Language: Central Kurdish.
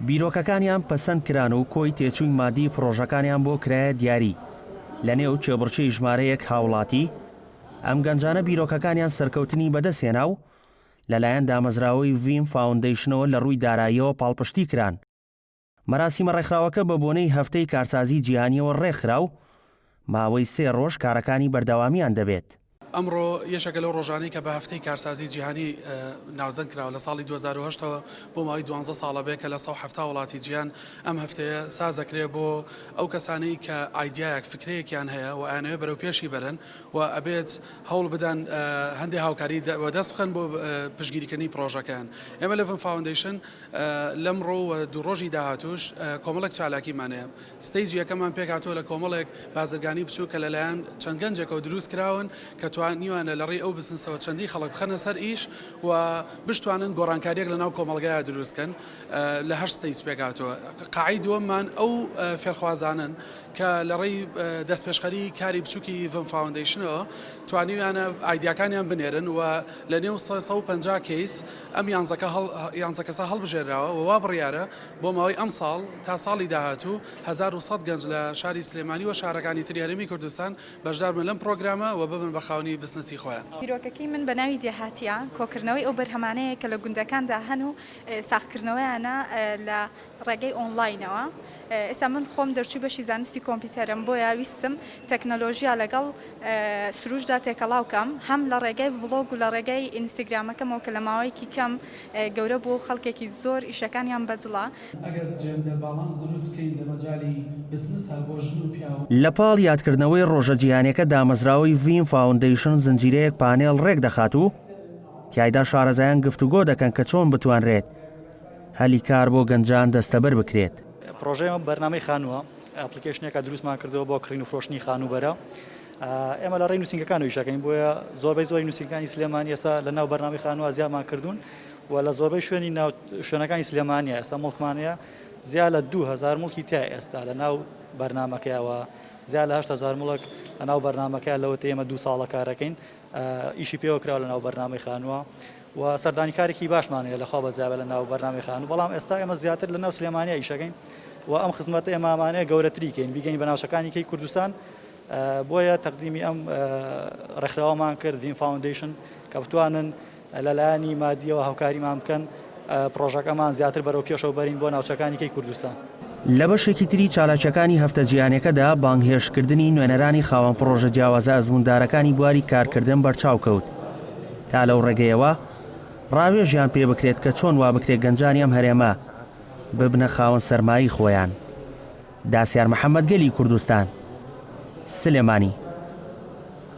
بیرۆکەکانیان پەسەند کران و کۆی تێچووی ماددی پڕۆژەکانیان بۆ کرایە دیاری لە نێو کێبڕکێی ژمارەیەک هاوڵاتی، ئەم گەنجانە بیرۆکەکانیان سەرکەوتنی بەدەست هێنا و لەلایەن دامەزراوەی ڤیم فاوندەیشنەوە لە ڕووی داراییەوە پاڵپشتی کران. مەراسیمە ڕێکخراوەکە بە بۆنەی هەفتەی کارسازی جیهانیەوە ڕێکخرا و ماوەی سێ ڕۆژ کارەکانی بەردەوامیان دەبێت. ئەمڕۆ یەکێکە لەو ڕۆژانەی کە بە هەفتەی کارسازی جیهانی ناوزەند کراوە، لە ساڵی دوو هەزار و هەشت ەوە بۆ ماوەی دوانزە ساڵە بێ کە لە سەد و حەفتا وڵاتی جیهان ئەم هەفتەیە سازەکرێ بۆ ئەو کەسانەی کە ئایدیایەک فکرەیەکیان هەیە و ئەیانەوێ بەرەو پێشی بەرن و ئەبێت هەوڵ بدەن هەندێ هاوکاری وەدەست بخەن بۆ پشتگیریکردنی پڕۆژەکەیان ئێمە لە ڤم فاوندەیشن لەمڕۆ و دوو ڕۆژی داهاتووش کۆمەڵێک چالاکیمان هەیە، ستەیجی یەکەممان پێکهاتووە لە کۆمەڵێک بازرگانی بچووک کە لەلایەن چەند گەنجێکەوە دروست کراون کە توانیویانە لەڕێی ئەو بزنسەوە چەندین خەڵک بخەنە سەر ئیش و بشتوانن گۆڕانکارییەک لەناو کۆمەڵگەیا دروست بکەن لە هەشت ستەیج پێکهاتووە. قاعەی دووەممان ئەو فێرخوازانەن کە لەڕێی دەستپێشخەری کاری بچووکی ڤم فاوندەیشنەوە توانیویانە ئایدیاکانیان بنێرن و لەنێو سەد و پەنجا کەیس ئەم یانزە کەسە هەڵبژێرراوە و وا بڕیارە بۆ ماوەی ئەمساڵ تا ساڵی داهاتوو هەزار و سەد گەنج لە شاری سلێمانی و شارەکانی تری هەرێمی کوردستان بەشدار بن لەم پرۆگرامە و ببن بە خاوەنی بزنسی خۆیان. بیرۆکەکەی من بە ناوی دێهاتییە، کۆکردنەوەی ئەو بەرهەمانەیە کە لە گوندەکاندا هەن و ساغکردنەوەیانە لە ڕێگەی ئۆنڵاینەوە ئێستا من خۆم دەرچووی بەشی زانستی کۆمپیوتەرم بۆیە ویستم تەکنەلۆژیا لەگەڵ سروشدا تێکەڵاو کەم هەم لە ڕێگای ڤڵۆگ و لە ڕێگای ئینستاگرامەکەمەوە کە لە ماوەیەکی کەم گەورە بووە و خەڵکێکی زۆر ئیشەکانیان بە دڵە. ئەگەر جێندەر باڵانس دروست بکەین لە مەجالی بزنسا بۆ ژن و پیاو. لە پاڵ یادکردنەوەی ڕۆژە جیهانیەکە دامەزراوەی ڤیم فاوندەیشن زنجیرەیەک پانێڵ ڕێکدەخات و تیایدا شارەزایان گفتوگۆ دەکەن کە چۆن بتوانرێت هەلی کار بۆ گەنجان دەستەبەر بکرێت. پڕۆژەی ئێمە بەرنامەی خانووە، ئەپڵیکەیشنێکە دروستمان کردووە بۆ کڕین و فرۆشتنی خانووبەرە. ئێمە لە ڕێی نووسینگەکانەوە ئیش دەکەین، بۆیە زۆربەی زۆری نووسینگەکانی سلێمانی ئێستا لە ناو بەرنامەی خانووە زیادمان کردوون و لە زۆربەی شوێنی ناو شوێنەکانی سلێمانییە ئێستا موڵکمان هەیە، زیا لە دوو هەزار موڵکی تایە ئێستا لە ناو بەرنامەکەیە و زیا لە هەشت هەزار موڵک لە ناو بەرنامەکەیە لەوەتەی ئێمە دوو ساڵە کار دەکەین. ئیشی پێوە کراوە لەناو بەرنامەی خانووە و سەردانیکارێکی باشمان هەیە لەخوا بەزیاوە لە ناو بەرنامی خانوو بەڵام ئێستا ئێمە زیاتر لە ناو سلێمانیا ئیشەکەین و ئەم خزمەت ئێمامانەیە گەورەتریکەین بیگەین بە ناوچەکانی کەی کوردستان بۆیە تەقدیمی ئەم ڕێکخراوەمان کرد ڤین فاوندیشن کە بتوانن لە لایەنی مادییەوە هاوکاریمان بکەن پڕۆژەکەمان زیاتر بەرەو پێشەوە بەرین بۆ ناوچەکانی کەی کوردستان. لە بەشێکی تری چالاکییەکانی هەفتە جیهانیەکەدا بانگهێشتکردنی نوێنەرانی خاوەن پڕۆژە جیاوازە ئەزمووندارەکانی بواری کارکردن بەرچاو کەوت تا لەو ڕێگەیەوە ڕاوێژیان پێ بکرێت کە چۆن وا بکرێت گەنجانی ئەم هەرێمە ببنە خاوەن سەرمایەی خۆیان. داسیار محەمەد گەلی کوردستان. سلێمانی.